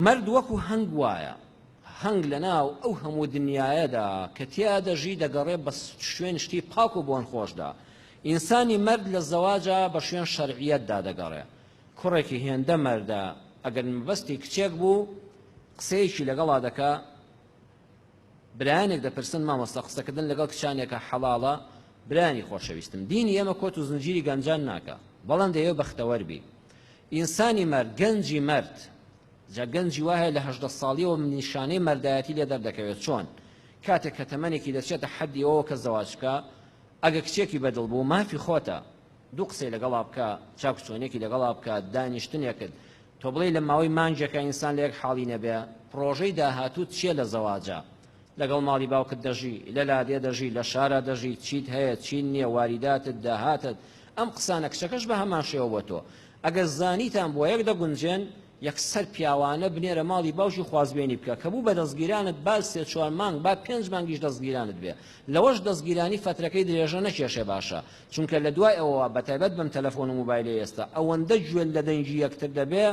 مەرد وەکو هەنگ وایە، هەنگ لەناو ئەو هەموو دنیایەدا کە تیا دەژی دەگەڕێ بە شوێن شتی پاک و بۆن خۆشدا. ئینسانی مەرد لە زەواجا بە شوێن شەرعیەتدا دەگەڕێ. کوڕێکی هێندە مەردە ئەگەر مەبەستی کچێک بوو قسەیەکی لەگەڵا دەکا، برایانێک دەپرسن، مامۆستا قسەکردن لەگەڵ کچانێکە حەڵاڵە؟ برایانی خۆشەویستم دینی ئێمە کۆت و زنجیری گەنجان ناکا بەڵام دەیەوێ بەختەوەر بی ئینسانی مەرد گەنجی مەرد جا گەنجی وایە لە هەژدە ساڵیەوە نیشانەی مەردایەتی لێ دەردەکەوێت چۆن کاتێک کە تەمەنێکی دەچێتە حەدی ئەوە کە زەواج بکە ئەگە کچێکی بەدڵ بوو مافی خۆتە دوو قسەی لەگەڵا بکە چاک چۆنێکی لەگەڵا بکە دانیشتنێکت تۆ بڵێی لە ماوەی مانگێکە ئینسان لە یەک حاڵی نەبێ پڕۆژەی داهاتووت چییە لە زەواجا لەگەڵ ماڵی باوکت دەژی لە لادێ دەژی لە شارا دەژی چیت هەیە چین نییە واریداتت داهاتت ئەم قسانە کچەکەش بە هەمان شێوە بۆ تۆ ئەگەر زانیتان بۆ یەک دەگونجێن یەکسەر پیاوانە بنێرە ماڵی باوکی خوازبێنی بکە کە بوو بە دەستگیرانت با سێ چوار مانگ با پێنج مانگیش دەستگیرانت بێ لەوەش دەستگیرانی فەترەکەی درێژە نەکێشێ باشە چونکە لە دوای ئەوەوە بەتایبەت بەم تەلەفۆن و موبایلەی ئێستا ئەوەندە گوێت لە دەنگی یەکتر دەبێ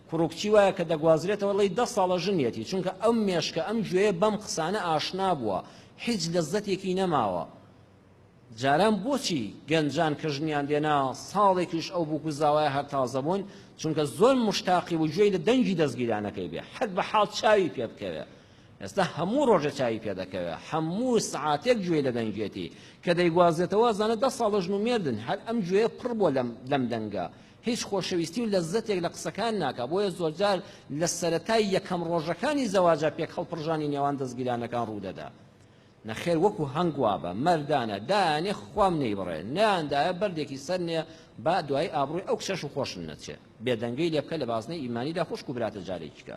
کوڕ و کچی وایە کە دەگوازرێتەوە ڵی دە ساڵە ژنیەتی چونکە ئەم مێشکە ئەم گوێیە بەم قسانە ئاشنا بووە هیچ لەزەتێکی نەماوە جاران بۆچی گەنجان کە ژنیان دێنا ساڵێکیش ئەو بووک و زاوای هەر تازە بوون چونکە زۆر مشتاقی و گوێی لە دەنگی دەستگیرانەکەی بێ حەد بە حاڵ چاوی پێ بکەوێ ئێستا هەموو ڕۆژێ چاوی پێ دەکەوێ هەموو سعاتێک گوێی لە دەنگێتی کە دەیگوازێتەوە زانە دە ساڵە ژن و مێردن هەر ئەم گوێە پڕ بۆ لەم لەم دەنگە هیچ خۆشەویستی و لەزەتێک لە قسەکان ناکە بۆیە زۆرجار لە سەتای یەکەم ڕۆژەکانی زەواجە پێک هەڵپڕژانی نێوان دەستگیرانەکان ڕوودەدا نەخێر وەکو هەنگوابە مەردانە دایانێ خوام نەی بڕێ نیاندایە بەردێکی سەر نێ با دوای ئابڕووی ئەو کچەش و خۆشن نەچێ بێدەنگەی لێبکە لە بازنەی ئیمانیدا خوشک و براتە جارێکیکە